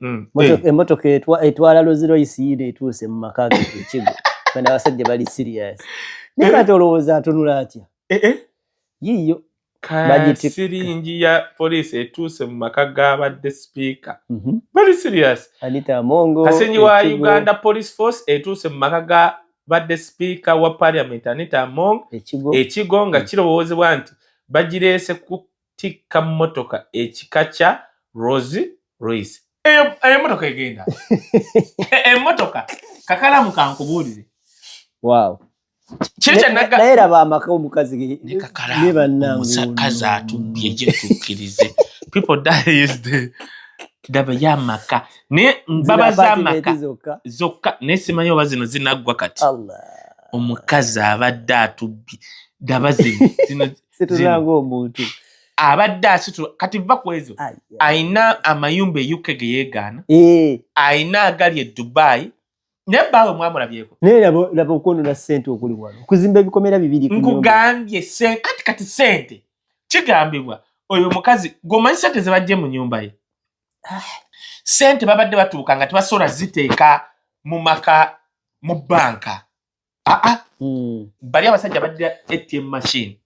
mm. eh. emotoka etwala loziroyisi yiino etuuse mu maka ge ekigo bana abasajja bali serious naye kati eh. olowooza atunula atya eh, yiiyo siringi ya poliisi etuuse mu maka g'abadde sipiika mhm. bali serious kasenyi wa uganda police force etuuse mu maka ga badde sipiika wa parliament anita among ekigo nga mm. kirowoozebwa nti bagireese ku tikka mmotoka ekika kya Rose Royce. Eyo emmotoka egenda emmotoka kakalamu kankubuulire. Wow. naye laba amaka omukazi ne bannangeomukazi atubbye gyetukkirize people die is the ndaba yamaka naye mbaba zamaka zokka naye simanyi oba zino zinaggwa kati omukazi abadde atubbi ndaba zino omuntu abadde asitula kati va ku ezo alina amayumba e uk ge yeegaana eh. alina agali e dubai naye baawe mwamulabyeko naye laba okwonona sente okuli wano okuzimba ebikomera bibiri nkugambye kati kati sente kigambibwa oyo omukazi gwomanyi sente zebajje mu nyumba ye ah. sente babadde batuuka nga tebasobola ziteeka mu maka mu banka ah, ah. Hmm. bali abasajja baddira atm machine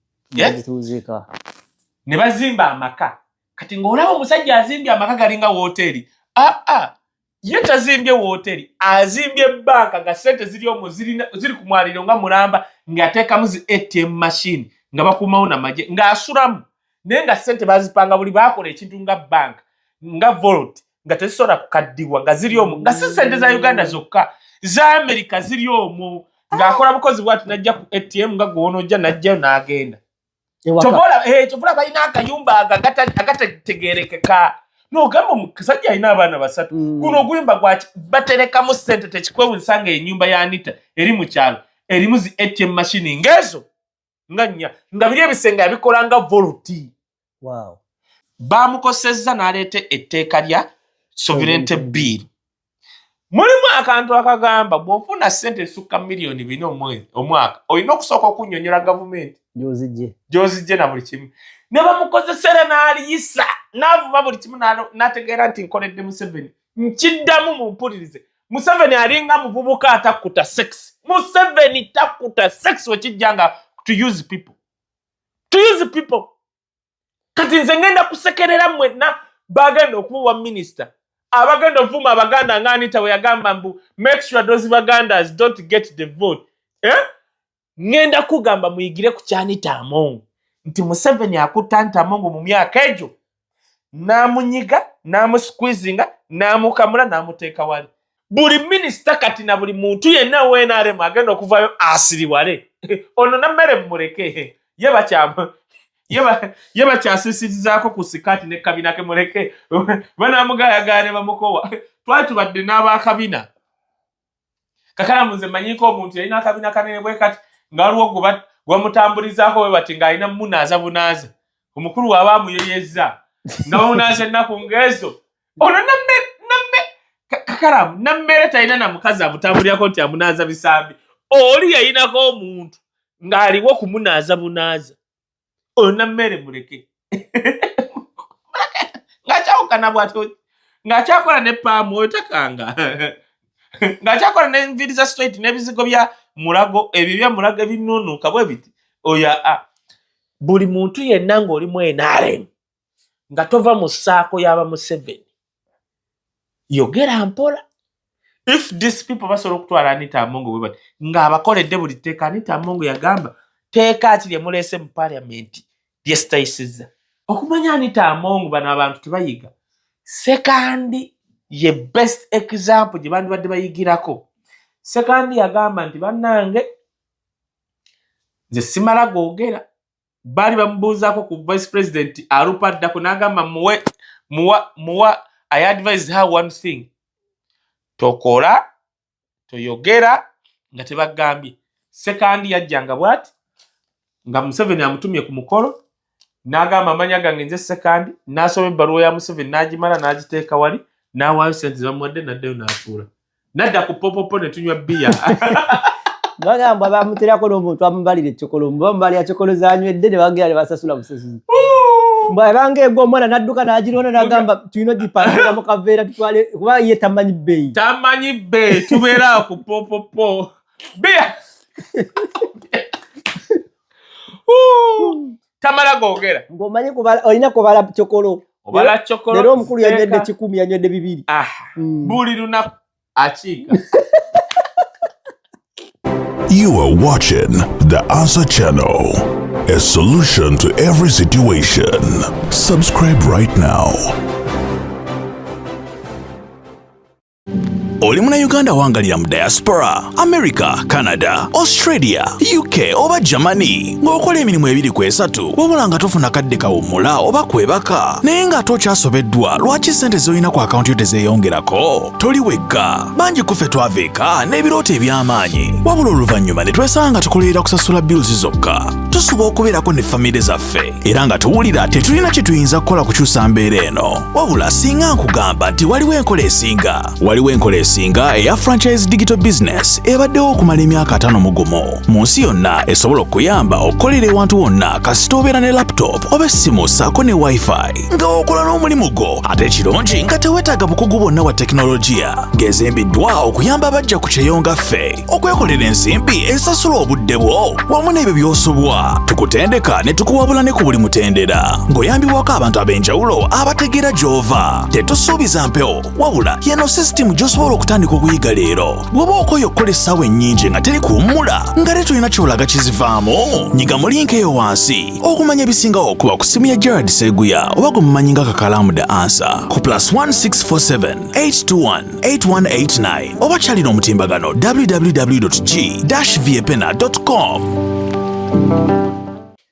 ne bazimba amaka kati ng'olaba omusajja azimbye amaka galinga wooteeri aa ah, ah. ye tazimbye wooteeri azimbye banka nga sente ziri omu ziri ku mwaliro nga mulamba ng'ateekamu zi atm machine nga bakumawo namagye ng'asulamu naye nga sente bazipanga buli bakola ekintu nga banka nga volt nga tezisobola kukaddibwa nga ziri omu nga si sente za uganda zokka za amerika ziri omu ng'akola bukozi bwati najja ku atm nga gwonojja najjayo n'agenda kyovola eh, balina akayumba agatategerekeka nogamba omusajja alina abaana basatu mm. guno oguyumba gwaki baterekamu sente tekikwewunsanga enyumba ya anita eri mu kyalo erimu zi atm mashini ngaezo nga nnya nga biri ebisenge yabikola nga voluti wow. baamukosezza n'aleeta etteeka lya sovereignty bill mulimu akantu akagamba bw'ofuna ssente esukka miliyoni bina omwaka olina okusooka okunyonyola gavumenti gyozijje na buli kimu ne bamukozesera n'aliyisa n'avuma buli kimu n'ategeera nti nkoledde museveni nkiddamu mumpulirize museveni alinga muvubuka atakuta sex museveni takuta sex wekijja nga to use people to use people kati nze ngenda kusekerera mwenna bagenda okubuwa minisita abagenda ovuma abaganda nga anita weyagamba mbu make sure those bagandas don't get the vote eh? ŋŋenda kugamba muyigire ku kyanita amongo nti museveni akutta nti amongo mu myaka egyo n'amunyiga n'amusqueezinga n'amukamula n'amuteeka wali buli minisita kati na buli muntu yenna wnrm agenda okuvayo asiriwale ono nammere mumuleke ye bakyamu ye bakyasisirizaako ku sikaati ne kabina ke muleke banamugayagaane bamukowa twali tubadde n'abakabina kakalamu nze manyiko omuntu yalina akabina kanene bwe kati nga waliwo gwe bamutambulizaako bwe bati ng'alina munaaza bunaaza omukulu waaba amuyeyezza nga bamunaaza ennaku ng'ezo ono namme namme kakalamu nammere talina na mukazi amutambulirako nti amunaaza bisambi oli yayinako omuntu ng'aliwo kumunaaza bunaaza oyo nammere muleke ngakyawukana bwati ngakyakola ne paamu oyo takanga ngakyakola nenviri za straight nebizigo bya mulago ebyo bya mulago ebinunuka bwe biti oyo a buli muntu yenna ngaoli mu nrm nga tova mu saako yaba museveni yogera mpola if this people basobola okutwala anita amongo webati ngaabakoledde buli tteeka anita amongo yagamba teeka ki lyemuleese mu parliament lyesitayisiza okumanya anita amongo bano abantu tebayiga sekandi ye best example gye bandibadde bayigirako sekandi yagamba nti bannange nze simala googera baali bamubuuzaako ku vice president alupa addako n'agamba muwe muwa muwa i advise her one thing tokola toyogera nga tebagambye sekandi yajjanga bwati nga museveni amutumye ku mukolo n'agamba amanya gange nze sekandi n'asoma ebbaluwa ya museveni n'agimala n'agiteeka wali n'awaayo sente zamuwadde n'addayo n'atuula nadda ku popopo ne tunywa bbiya bagamba bamuterako n'omuntu amubalira ekikolo mba mubalira kikolo zanywedde ne bagera ne basasula busasuzi bwabanga egwa omwana nadduka nagirona nagamba tulina ogipangisa mu kaveera tutwale kuba ye tamanyi bbeeyi tamanyi bbeeyi tubeera ku popopo bbiya tamala gogera ngomanyi kubala olina kubala chokolo obala chokolo lero omukulu yanywedde kikumi yanywedde bibiri ah mm. buli lunaku akiika You are watching The Answer Channel, a solution to every situation. Subscribe right now. oli munayuganda wangalira mu diaspora america canada australia uk oba germany ng'okola emirimu ebiri ku esatu wabula nga tofuna kadde kawummula oba kwebaka naye ng'ate okyasobeddwa lwaki ssente z'olina ku akawunti yo tezeeyongerako toli wekka bangi kuffe twava eka n'ebirooto eby'amaanyi wabula oluvannyuma ne twesanga nga tukolerera kusasula bills zokka tusuba okubeerako ne famire zaffe era nga tuwulira tetulina kye tuyinza kukola kukyusa mbeera eno wabula singa nkugamba nti waliwo enkola esinga waliwo enkola esinga eya franchise digital business ebaddewo okumala emyaka atano mu gumu mu nsi yonna esobola okuyamba okukolera ewantu wonna kasita obeera ne laptop oba essimu saako ne wifi nga okola n'omulimu gwo ate ekirungi nga tewetaaga bukugu bwonna bwa tekinologiya gezembiddwa okuyamba abajja ku kyeyo nga ffe okwekolera ensimbi esasula obudde bwo wamu n'ebyo by'osubwa tukutendeka ne tukuwabula ne ku buli mutendera ng'oyambibwako abantu ab'enjawulo abategeera gy'ova tetusuubiza mpewo wabula yeno sisitimu gy'osobola okutandika okuyiga leero bw'oba okoye okukola essaawa ennyingi nga teri kuwummula nga tetulina kyolaga kizivaamu nyiga mu linka eyo wansi okumanya ebisingawo okuba ku ssimu ya gerard seguya oba gwe mumanyi nga kakalaamu the ansa ku plus 1647 821 8189 oba kyalina omutimbagano www.g-viepena.com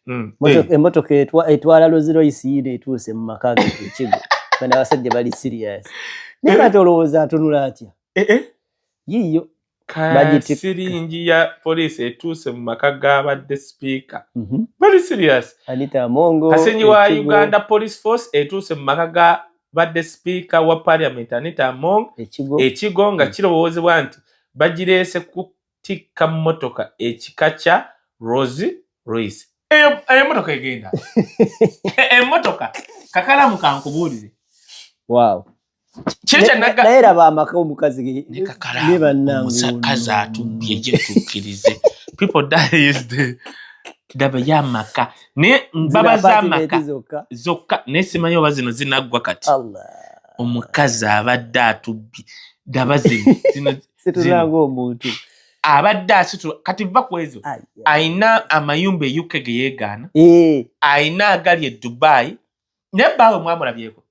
hmm. eh. emotoka etwala loziroyisiina etuuse mu maka gekigo bana abasajja bali sirias naye kati eh. olowooza atunula atya eh, yiyo siringi ya poliisi etuuse mu maka g'abadde sipiika mhm. very serious kasingi wa uganda police force etuuse mu maka g'abadde sipiika wa parliament anita among ekigo nga mm. kirowoozebwa nti bagireese kutikka mmotoka ekika kya rose royce eyo emotoka egenda emotoka kakalamu kankubuulire wow naye laba amaka omukazi ne bannangeomukazi atubbye gye tukkirize people die is the daba ya maka naye baba za maka zokka naye simanyi oba zino zinaggwa kati omukazi abadde atubbye daba zino zino situlanga omuntu abadde asitula kati va ku ezo ayina amayumba euk ge yeegaana ayina eh. agali e dubai naye baawe mwamulabyeko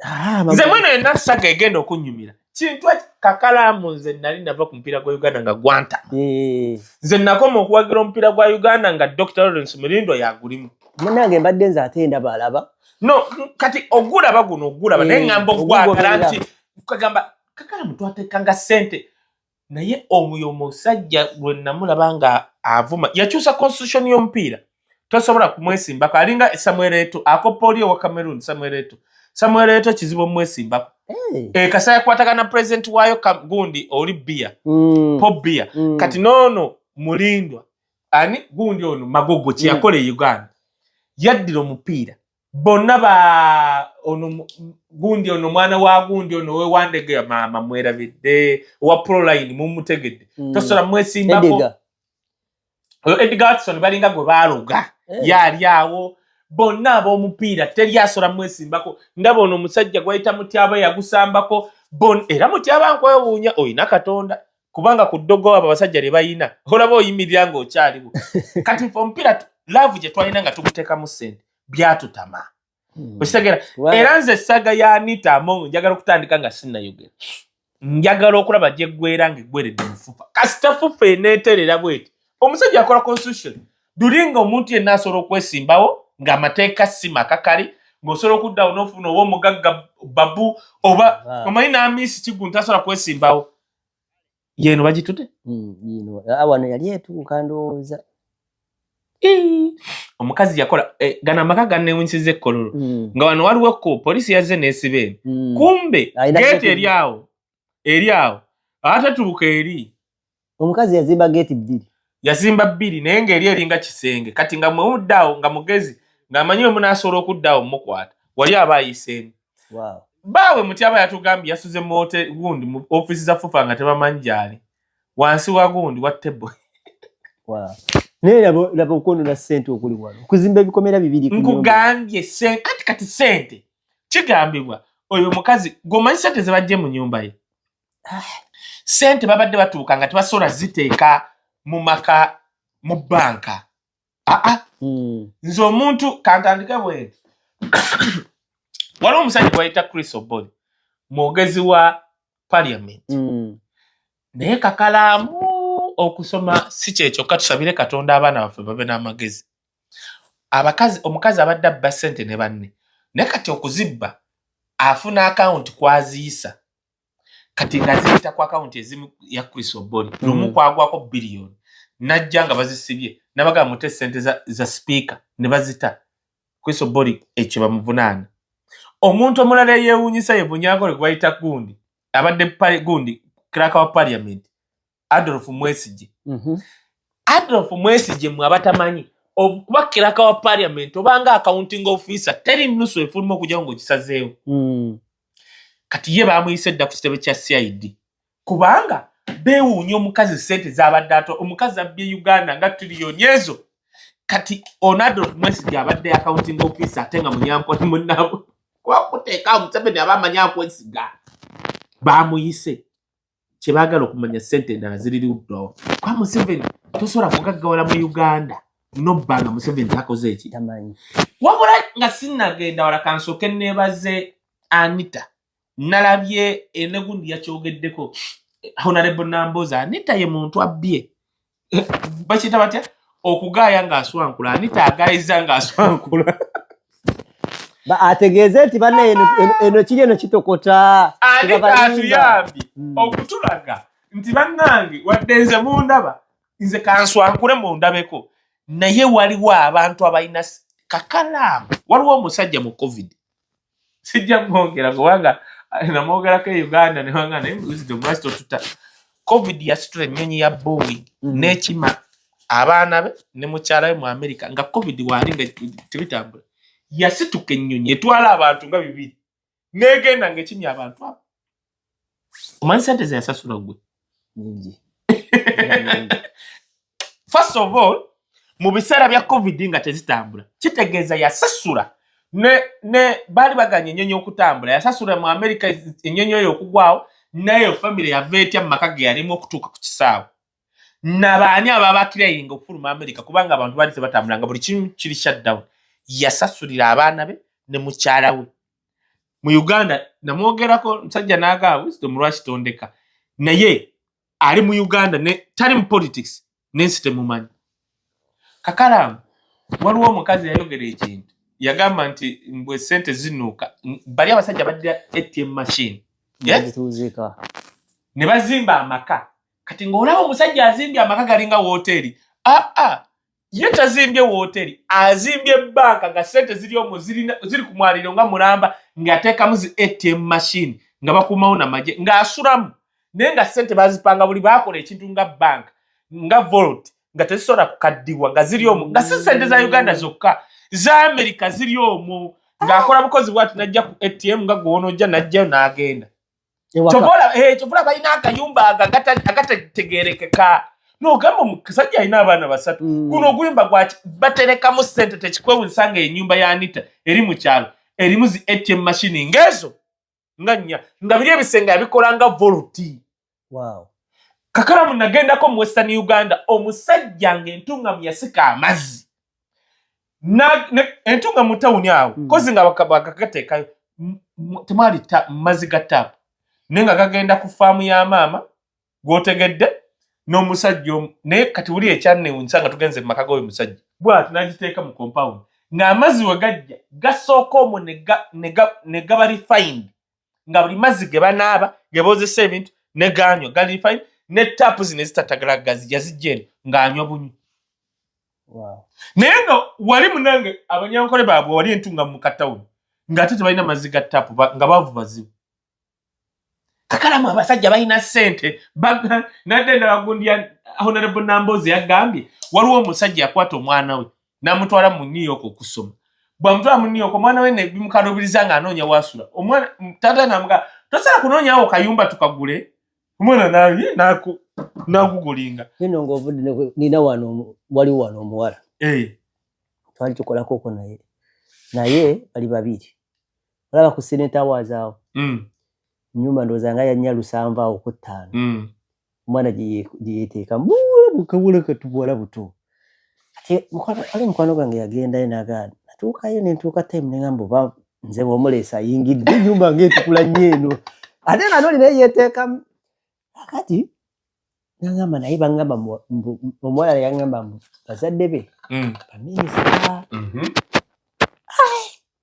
Ah, nze mwena yena saga egenda okunyumira kintu kakalamu nze nali nava ku mupiira gwa uganda nga gwanta eh. nze nakoma okuwagira omupiira gwa uganda nga dr lawrence mulindo yagulimu munange mbadde nze ate ndaba alaba no kati ogulaba guno ogulaba naye eh, ngamba okugwagala nti kagamba kakalamu twatekanga sente naye omuyo musajja lwe namulaba nga avuma yakyusa constitution y'omupiira tosobola kumwesimbako alinga samuel eto akoppa oli owa cameroon samuel eto samuel eto kizibu omwesimbako hey. e, eh, kasa yakwatagana president wayo gundi oli bia mm. po bia mm. kati nono mulindwa ani gundi ono magogo kyeyakola mm. e uganda yaddira omupiira bonna ba ono gundi ono mwana wa gundi ono wewandege maama mwerabidde owa proline mumutegedde mm. tosobola mwesimbako oyo edgar watson balinga gwe baloga eh. yali awo bonna ab'omupiira teri asobola mwesimbako ndaba ono omusajja gwayita mutyaba yagusambako era mutyaba nkwewuunya olina katonda kubanga ku ddogo abo abasajja lye balina olaba oyimirira ng'okyaliwo kati fe omupiira laavu gye twalina nga tuguteekamu ssente byatutama hmm. okitegera era nze essaga ya anita among njagala okutandika nga sinnayogera njagala okulaba gye ggwera nga eggweredde mufufa kasita fufa eneeterera bweti omusajja akola constitution dulinga omuntu yenna asobola okwesimbawo ng'amateeka si makakali ng'osobola okuddawo n'ofuna oba omugagga babu oba omanyi n'amiisi kigunta asobola kwesimbawo yeno bagitude hmm, ah, wano yali etuuka ndowooza omukazi yakola eh, gana amaka ganewunsiza ekkololo hmm. nga wano waliwo ko polisi yazze nesiba eno hmm. kumbe geeti eri awo eri awo atatuuka eri omukazi yazimba geeti bbiri yazimba bbiri naye ng'eri eringa kisenge kati nga mwewudde awo nga mugezi ng'amanyi wemunaasobola okudda awo mukwata wali aba ayiseemu baawe muti aba yatugambye yasuze muwote gundi mu ofiisi za fufa nga tebamanyi gyali wansi wa gundi wa tebo naye laba okwonona sente okuli wano okuzimba ebikomera bibiri nkugambye kati sente kigambibwa oyo mukazi gwomanyi sente zebajje mu nyumba ye ah. sente babadde batuuka nga tebasobola ziteeka mu maka mu banka aa ah, ah. hmm. nze omuntu kantandike bwenti waliwo omusajja gwayita chris oboli mwogezi wa parliament hmm. naye kakalaamu okusoma si kyekyokka tusabire katonda abaana baffe babe n'amagezi abakazi omukazi abadde abba sente ne banne naye kati okuzibba afuna akawunti kwaziyisa kati nga ziyita ku akawunti ezimu ya chris oboni mm. lumu kwagwako biliyoni najja nga bazisibye nabaga mute sente za, za sipiika ne bazita chris oboni ekyo bamuvunaana omuntu omulala eyewunyisa ye bunyagole gwebayita gundi abadde gundi kiraka wa parliament Adolf Mwesije. Mhm. Adolf Mwesije mwe abatamanyi okuba kiraka wa parliament obanga accounting officer teri nusu efuluma okujja ngo kisazeewo. Mm. Kati ye bamuyise dda ku kitebe kya CID. Kubanga bewuunya omukazi sente zabadde ato omukazi abbye Uganda nga trillion ezo. Kati on Adolf Mwesije abadde accounting officer ate nga munyampo ni munabo. Kwa kuteka Museveni aba amanyi akwesiga. Bamuyise. kyebagala okumanya sente endala ziri luddawa kwa museveni tosobola kugaggawala mu uganda nobba nga museveni takoze eki wabula nga sinagenda wala kansooke nebaze anita nalabye enegundi yakyogeddeko honorable namboza anita ye muntu abbye bakiyita batya okugaaya ng'aswankula ani taagaayiza ng'aswankula ategeeze nti bana eno kiri eno kitokota ani taatuyambye hmm. okutulaga nti bannange wadde nze mundaba nze kanswankule mundabeko naye waliwo abantu abalina kakalaamu waliwo omusajja mu covid sijja mwogera kubanga eh, namwogerako e uganda newanga naye wisdom lwaki totuta covid yasitula ennyonyi ya boeing mm. n'ekima abaana be ne mukyala we mu america nga covid waali nga tebitambula yasituka ennyonyi etwala abantu nga bibiri negenda nga ekimya abantu abo omanyi sente zeyasasula gwe first of all mu biseera bya covid nga tezitambula kitegeeza yasasula ne ne baali baganya enyonyi okutambula yasasula mu america enyonyi oyo okugwawo nayo famiry yava etya mu maka ge yalimu okutuuka ku kisaawe nabaani ababakirainga okufuluma america kubanga abantu baali tebatambulanga buli kimu kiri shutdown yasasulira abaana be ne mukyala we mu uganda namwogerako musajja nagamba wisdom lwaki tondeka naye ali mu uganda ne tali mu politics nensi temumanyi kakalamu waliwo omukazi yayogera ekintu yagamba nti mbwe sente zinuuka bali abasajja baddira atm machine ne bazimba amaka kati ngaolaba omusajja azimbye amaka galinga woteeri aa ah, ah. ye tazimbye wooteri azimbye banka nga sente ziri omwo ziri ku mwaliro nga mulamba ng'ateekamu zi atm machine nga bakuumawo namagye ng'asulamu naye nga sente bazipanga buli bakola ekintu nga banka nga volt nga tezisobola kukaddibwa nga ziri omwo nga si sente za uganda zokka za amerika ziri omwo ng'akola bukozi bwati najja ku atm nga gwonojja najjayo n'agenda kyobola eh, balina akayumba agatategerekeka nogamba omusajja alina abaana basatu mm. guno oguyumba gwaki baterekamu sente tekikwewunyisa nga enyumba ya anita eri mu kyalo erimu zi atm mashini ngaezo nga nnya nga biri ebisenge abikola nga volti kakalamu nagendako mu western uganda omusajja nga entungamu yasika amazzi entunga mu tawuni awo hmm. kozi nga bakagateekayo temwali mazzi ga taapu naye nga gagenda ku faamu ya maama gwotegedde n'omusajja omu naye kati wuli ekyanewunyisa nga tugenze mu maka g'oyo musajja bwati nagiteeka mu kompawundi ng'amazzi we gajja gasooka omwo ne gaba refined nga buli mazzi ge banaaba ge boozesa ebintu ne gaanywa gali fine ne taapu zino ezitatagala gazi yazijja eno ng'anywa bunywa naye nga wali munange abanyankole baabwe wali entunga mu katawuni ng'ate tebalina mazzi ga taapu nga baavu bazibu kakalamu abasajja balina ssente nadde ndala gundi ya honorable nambozi yagambye waliwo omusajja yakwata omwana we namutwala mu new york okusoma bwamutwala mu new york omwana we nebimukaluubiriza nga anoonya wasula omwana tata namuga tosala kunoonyawo kayumba tukagule omwana naye naku nagugulinga eno ngaovudde nina wano wali wano omuwala eh. twali tukolako oko naye naye bali babiri olaba ku seneta wazaawo mm. nyumba ndooza nga yanya lusanva awo ku ttaano mm. omwana gyeyeteeka muula bukabula katubuwala buto kati ali mukwano gwange yagendayo naga natuukayo nentuuka time nengamba oba nze bwomuleesa ayingidde enyumba ngaetukula nnyo eno ate nga noli naye yeteekamu akati nangamba naye bangamba omuwala yangamba mbu bazadde be mm. baminisita mm-hmm.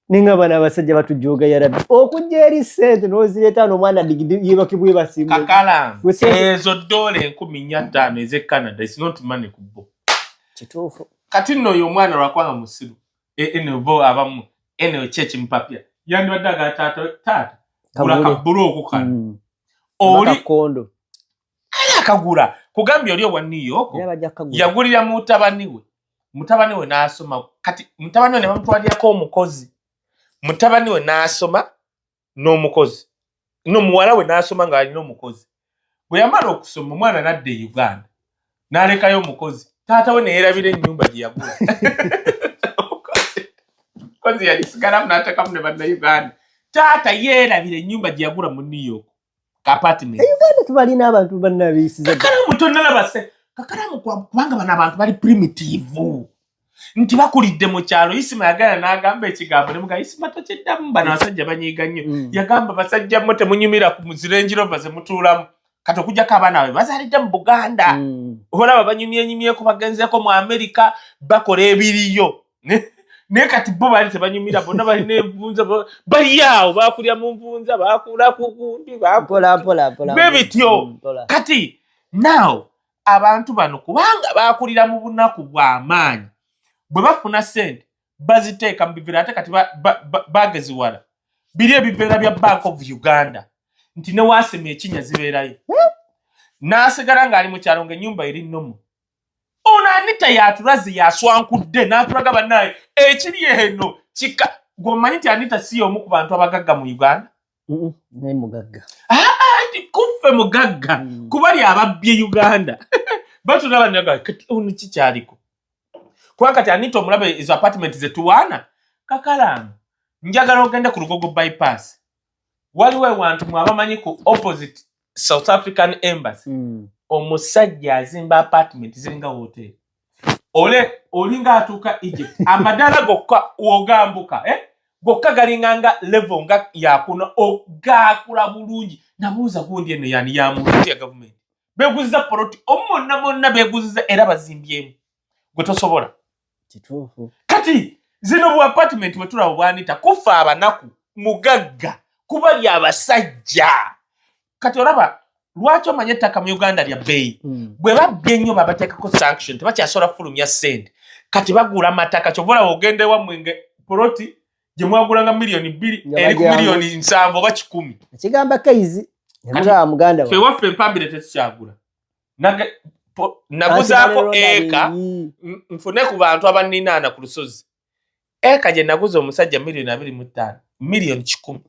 ninga bana abasajja batujooga yarabi okujja eri sente nozireeta no omwana digiyebakibwe basimu kakala ezo dola enkumi nya ttaano eze canada is not money ku bo kituufu kati nno oyo omwana lwakwanga musiru e, eno bo abamu eno ki ekimupapya yandibadde aga taata taata gula kabulu okukano mm. oli kondo kale akagula kugambye oli owa new york yagulira mutabani we mutabani we n'asoma kati mutabani we ne bamutwalirako omukozi mutabani we n'asoma n'omukozi no muwala we n'asoma nga alina omukozi bwe yamala okusoma omwana n'adda e uganda n'alekayo omukozi taata we neyerabira ennyumba gye yagula omukozi yagisigalamu n'atekamu ne bannauganda taata yeerabira ennyumba gye yagula mu new york kapatimentiuganda tubalina abantu banabeyisizakalamu tonalabase kakalamu kubanga bano abantu bali primitivu nti bakulidde mu kyalo isima yagala n'agamba ekigambo ne mugaa isima tokiddamu bano basajja banyiiga nnyo mm. yagamba basajja mo temunyumira ku muzirenjirova ze mutuulamu kati okujjako abaana babe bazalidde mu buganda mm. olaba banyumyenyumyeko bagenzeeko mu amerika bakola ebiriyo naye kati bo baali tebanyumira bonna balina envunza bali awo bakulya mu nvunza bakula kukundi be bityo mm, kati naaw abantu bano kubanga bakulira mu bunaku bw'amaanyi bwe bafuna sente baziteeka mu bivera ate kati bageziwala biri ebiveera bya bank of uganda nti newaasema ekinya zibeerayo hmm? n'asigala ng'ali mu kyalo ng'ennyumba eri nnomu ono anita yatulaze yaswankudde natulaga banaye ekiri eno kika gwomanyi nti anita si yomu ku bantu abagagga mu uganda naye mugagga nti kuffe mugagga mm. kuba lyababbye uganda batulaba nagati ono kikyaliko kuba kati anita omulaba ezo apartment zetuwaana kakalaano njagala ogende ku lugogo bypass waliwo ewantu mwabamanyi ku opposite south african embassy mm. omusajja azimba apartment ziringa hotel ole olinga atuuka egypt amadaala gokka ogambuka eh? gokka galinga nga level nga yakuna ogakula bulungi nabuuza gundi eno yani yamuti ya gavumenti beguziza poloti omu monna monna beguziza era bazimbyemu gwe tosobola kituufu kati zino bu apartment wetulaba bwanita kufa abanaku mugagga kuba lya basajja kati olaba lwaki omanye ettaka mu uganda lya bbeeyi hmm. bwe babbye ennyo babateekako sanction tebakyasobola kufulumya sente kati bagula mataka kyova olaba ogenda ewammwe nga poloti gye mwagulanga miliyoni bbiri eri ku miliyoni nsanvu oba kikumi ekigamba kaizi fe waffe empambire tetukyagula naguzaako eka nfune ku bantu abaninaana ku lusozi eka gye naguza omusajja miliyoni abiri mu ttaano miliyoni kikumi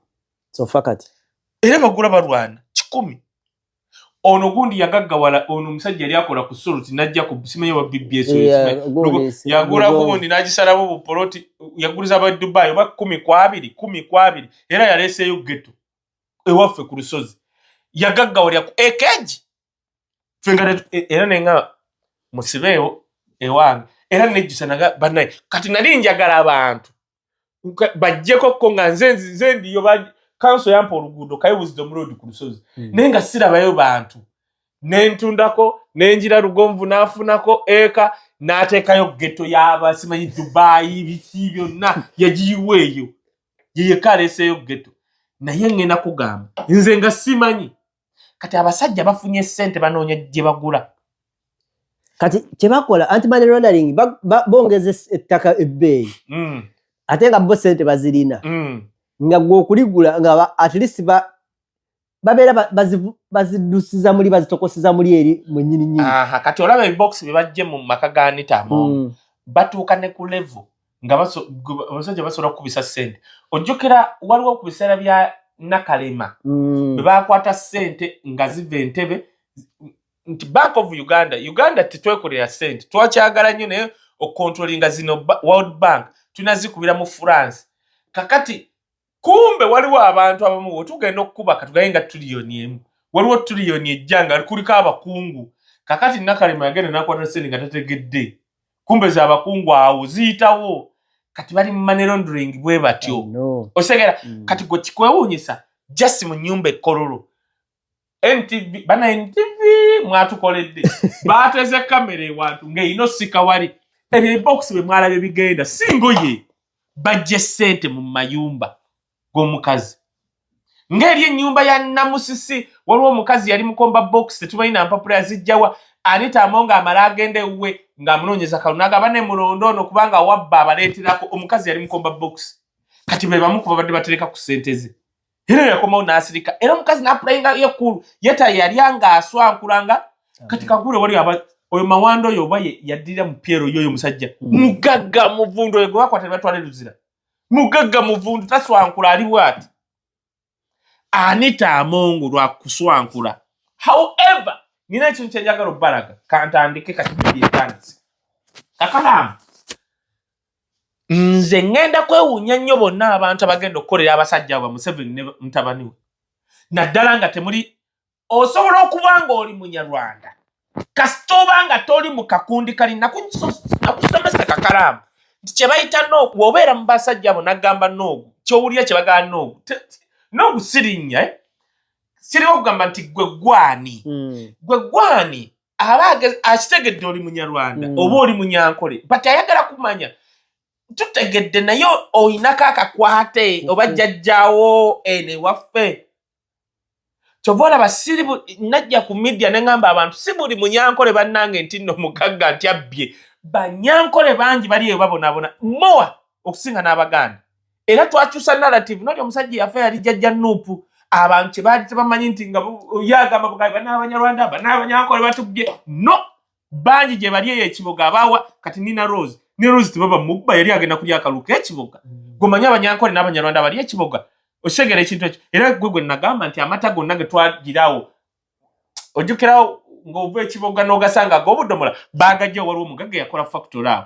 era bagula balwana kikumi ono gundi yagaggawala ono omusajja yali akola ku soluti najja ku simanyi oba bbs yagula gundi nagisalamu bupoloti yaguliza aba dubai oba kumi ku abiri kumi ku abiri era yaleeseeyo geto ewaffe ku lusozi yagaggawalira ku ekeji e, era nenga musibeewo ewange era nejjusa naga banaye kati nali njagala abantu bajjeko ko nga nze nze ndiyo kanso yampa oluguudo kaye wisdom road ku lusozi hmm. naye nga sirabayo bantu nentundako nenjira lugonvu nafunako eka natekayo geto yaba simanyi dubayi biki byonna yagiyiwa eyo yeyekaleseyo geto naye ngenda kugamba nze nga simanyi kati abasajja bafunye sente banoonya gye bagula kati kyebakola anti money laundering bongeza ettaka ebbeeyi mm. ate nga bo sente bazirina mm. nga gwe okuligula nga at least babeera bazidusiza muli bazitokosiza muli eri mwenyini nyini kati olaba ebibokisi bye bajje mu maka ga nitamu mm. batuuka ne ku levo nga abasajja basobola kukubisa sente ojjukira waliwo ku biseera bya nakalema mm. bwe bakwata sente nga ziva entebe nti bank of uganda uganda tetwekolera sente twakyagala nnyo naye okontrolinga zino world bank tunazikubira mu france kakati kumbe waliwo abantu abamu wetugenda okukuba katugaye nga tuliyoni emu waliwo tuliyoni ejja nga kuliko abakungu kakati nakalema yagenda nakwata sente nga tategedde kumbe za abakungu awo ziyitawo kati bali mumanerondring bwe batyo osegera mm. kati gwe kikwewunyisa just mu nyumba ekololo NTV bana NTV mwatukoledde baateze kamera ewantu ng'erina osika wali ebyo ebibokisi bye mwalabye bigenda si ngoye bajje ssente mu mayumba g'omukazi ng'eri ennyumba ya namusisi waliwo omukazi yali mukomba bokisi tetumanyi na mpapula yazijjawa anitamo ng'amala agenda ewuwe ng'amunoonyeza kalunaga bane mulonda ono kubanga wabba abaleeterako omukazi yali mukomba bokisi kati be bamu ku babadde batereka ku ssente ze era yakomawo n'asirika era omukazi n'apulayinga yekkulu yeta yalya ng'aswankulanga kati kagule wali aba oyo mawanda oyo oba yaddira mu pyero yoyo omusajja hmm. mugagga muvundu oyo gwe bakwata ne batwala eruzira mugagga muvundu taswankula ali bwati anita amongo lwa kuswankula however nina ekintu kyenjagala okubalaga kantandike kati bibyetandize kakalaamu nze ŋŋenda kwewuunya nnyo bonna abantu abagenda okukolera abasajja abwe museveni ne mutabani we naddala nga temuli osobola okuba ng'oli munyarwanda kasita oba nga toli mu kakundi kali nakusomesa kakalaamu nti kye bayita noogu obeera mu basajja abo nagamba noogu kyowulira kye bagala noogu noogu sirinnya eh? siriwo okugamba nti gwe gwani hmm. gwe gwani aba akitegedde oli munyarwanda mm. oba oli munyankole but ayagala kumanya tutegedde naye olinako akakwate oba mm-hmm. jajjawo ene waffe kyova olaba siri najja ku media neŋamba abantu si buli munyankole bannange nti no mugagga nti abbye banyankole bangi bali eyo babonabona mowa okusinga n'abaganda era twakyusa narrative noli omusajja yafa yali jajja nupu abantu kyebaali tebamanyi nti nga yagamba bugabi banabanyarwanda banabanyankole batubye no bangi gye bali eyo ekiboga abawa kati nina rose ne rose tebaba mubba yali agenda kulya akalulu kekiboga mm. gomanye abanyankole n'abanyarwanda bali ekiboga osegera ekintu ekyo era gwe gwe nagamba nti amata gonna ge twagirawo ojjukirawo ng'ova ekiboga n'ogasanga ag'obudomola baagajja waliwo omugagga yakola fakitole awo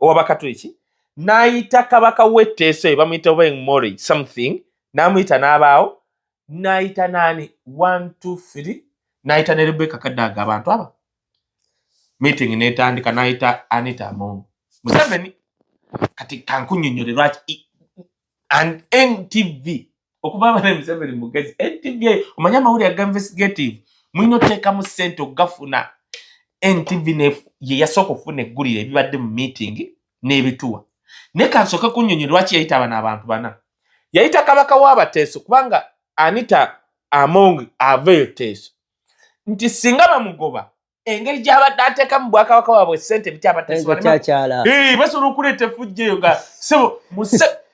owabakatuliki n'ayita kabaka w'etteeso ye bamuyita obeng mori something n'amuyita n'abaawo n'ayita naani one two three n'ayita ne rebeka kadaaga abantu aba meeting n'etandika n'ayita anita amongo museveni kati kankunyonnyole lwaki and ntv okuba abana museveni mugezi ntv eyo omanyi amawulire aga investigative mulina oteekamu sente okugafuna ntv yeyasooka okufuna eggulire ebibadde mu meeting n'ebituwa naye kansooke kunyonyi lwaki yayita abana abantu bana yayita kabaka w'abateeso kubanga anita among aveyo teeso nti singa bamugoba engeri gyabadde ateeka mu bwakabaka waabwe sente bikyabateesobola basobola okuleeta efujja eyo nga sebo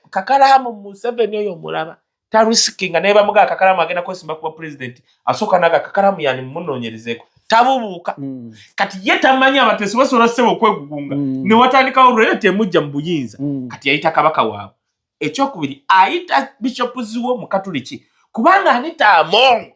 kakalaamu museveni oyo omulaba tarisiki nga naye bamuga akakalaamu agenda kwesimba kuba pulezidenti asooka naga akakalaamu yani mumunoonyerezeeko tabubuuka hmm. kati ye tamanyi abateesi basobola sebo okwegugunga hmm. ne watandikawo olwera temujja mu buyinza hmm. kati yayita kabaka waabwe ekyokubiri ayita bishopu ziwo mu katuliki kubanga anita amongo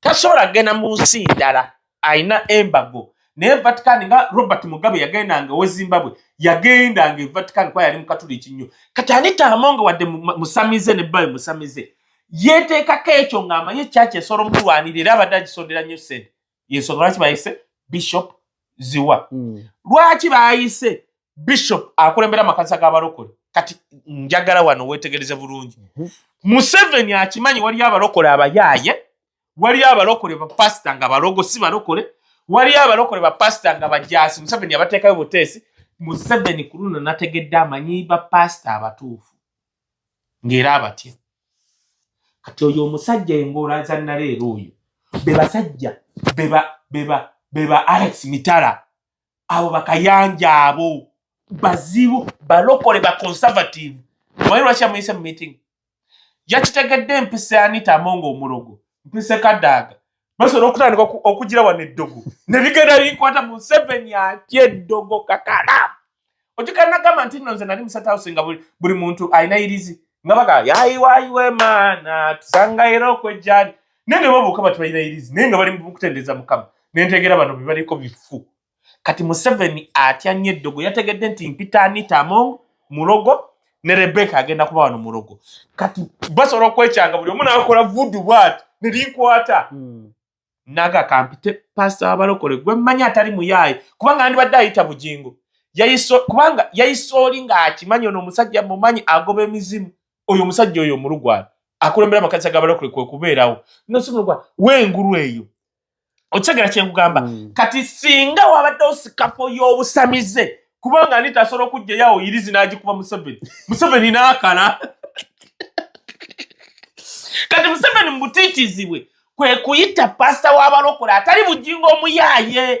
tasobola kugenda mu nsi ndala alina embago naye vatican nga robert mugabe yagendanga owe zimbabwe yagendanga e vatican kuba yali mukatuliki nnyo kati anitaamu nga wadde musamize ne bbawe musamize yeteekako ekyo ng'amanyi ekyaki esobola omulwanira era abadde agisondera nnyo sente yensonga lwaki bayise bishop ziwa mm. lwaki bayise bishop akulembera amakanisa g'abalokole kati njagala wano wetegereze bulungi mhm. museveni akimanyi waliyo abalokole abayaaye waliyo abalokole bapasita nga balogo si balokole waliyo abalokole bapasita nga bajasi museveni abateekayo buteesi museveni ku luno nategedde amanyi bapasita abatuufu ng'era abatya kati oyo omusajja engoola za naleero oyo be basajja be ba alex mitala abo bakayanja abo bazibu balokole ba conservative obaye lwaki amuyise mu meeting yakitegedde mpise anita amonga omulogo mpise kadaaga basobola okutandika okugira wano eddogo ne bigenda bikwata museveni atya eddogo kakala okikanagamba nti nno nze nali musatawusi nga buli muntu alina irizi nga baga yayiwayiwe maana tusanga era okwejjani naye ne babuuka bati balina irizi naye nga bali mukutendeza mukama nentegera bano bebaliko bifu kati museveni atya nnyo eddogo yategedde nti mpita anita among mulogo ne rebeka agenda kuba wano mulogo kati basobola okwekyanga buli omu nakola vudu bwati nerinkwata hmm. naga kampite pasita wabalokole gwe mmanyi atali muyaayi kubanga andibadde ayita bugingo kubanga yayisa oli ng'akimanyi ono omusajja mumanyi agoba emizimu oyo omusajja oyo omulugwala akulembera amakanisa gabalokole kwekubeerawo nosimulugwa wengulu eyo okitegera kyenkugamba mm. kati singa wabaddewo sikafo y'obusamize kubanga ani tasobola okugjayawo irizi n'agikuba museveni museveni n'akala kati museveni mubutiitizibwe kwe kuyita pasita w'abalokole atali bujingo omuyaaye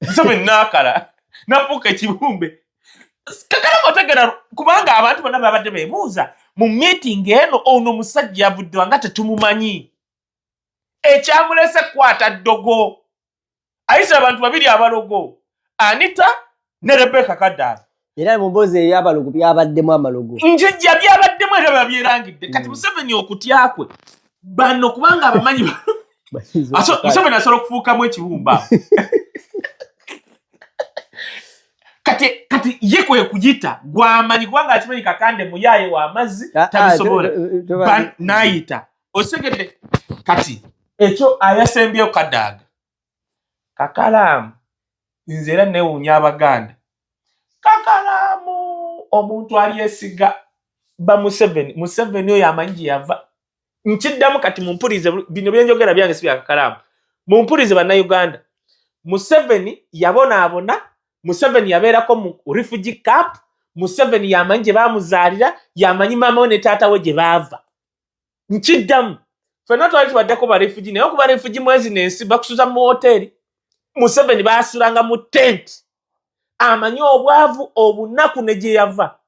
nsome naakala nafuuka ekibumbe kakala mwategera kubanga abantu bonna babadde bebuuza mu meeting eno ono omusajja yavuddwa nga tetumumanyi ekyamulese kukwata ddogo ayisa abantu babiri abalogo anita ne rebeka kadaala era muboozi ebyabalogo byabaddemu amalogo njijja byabaddemu era babyerangidde kati mm. museveni okutya kwe bano kubanga abamanyi museveni asobola okufuukamu ekibumba kati kati ye kwe kuyita gwamanyi kubanga akimanyi kakande muyaaye w'amazzi ah, ah, tabisobola n'ayita osegedde kati ekyo ayasembyeyo kadaaga kakalaamu nze era newuunya abaganda kakalaamu omuntu alyesiga bamuseveni museveni oyo amanyi gye yava nkiddamu kati mumpulize bino byenjogera byange si byakakalaamu mumpulize bannauganda museveni yabonaabona museveni yabeerako mu refugee camp museveni yamanyi gye bamuzaalira yamanyi maama we ne taata we gye baava nkiddamu fenna twali tubaddeko barefugi naye okuba refugi mwezi nensi bakusuza mu woteeri museveni basulanga mu tenti amanyi obwavu obunaku ne gye yava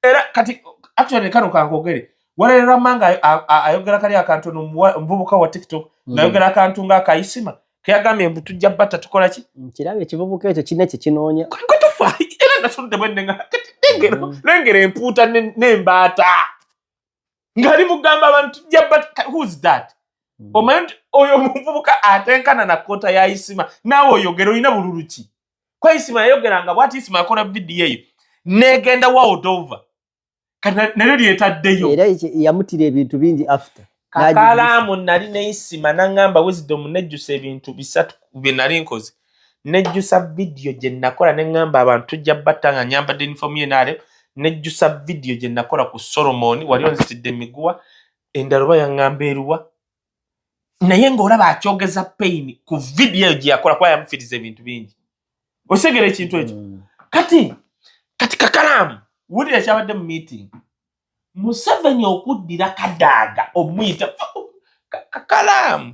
era kati actually kano kankogere walererama nga ayogera kali akantu omuvubuka wa tiktok mm. ngayogera akantu nga akayisima keyagambye mbu tujja batta tukola ki nkiraba mm, ekivubuka ekyo kina ekyo kinoonya kwetufa era natunudde bwennenga lengera mm. empuuta n'embaata ng'ali mugamba abantu who's that hmm. omanyi nti oyo omuvubuka atenkana na kota ya isima naawe oyogera olina bululu ki kwa isima yayogeranga bwati isima yakola vidiyo eyo negenda waodova nalyo lyetaddeyo era yamutira ebintu bingi after kakalaamu nali neisima nangamba wisdom nejjusa ebintu bisatu byenali nkoze nejjusa vidiyo gye nakola ne ŋŋamba abantu tujja batta nga nyambadde yunifoomu yenaale nejjusa vidiyo gye nakola ku solomoni wali onzitidde emiguwa endala oba yaŋŋamba eruwa naye ng'olaba akyogeza payini ku vidiyo eyo gye yakola kuba yamufiriza ebintu bingi osegera ekintu ekyo mm. kati kati kakalaamu wulira ekyabadde mu meeting museveni okuddira kadaaga omuyita kakalaamu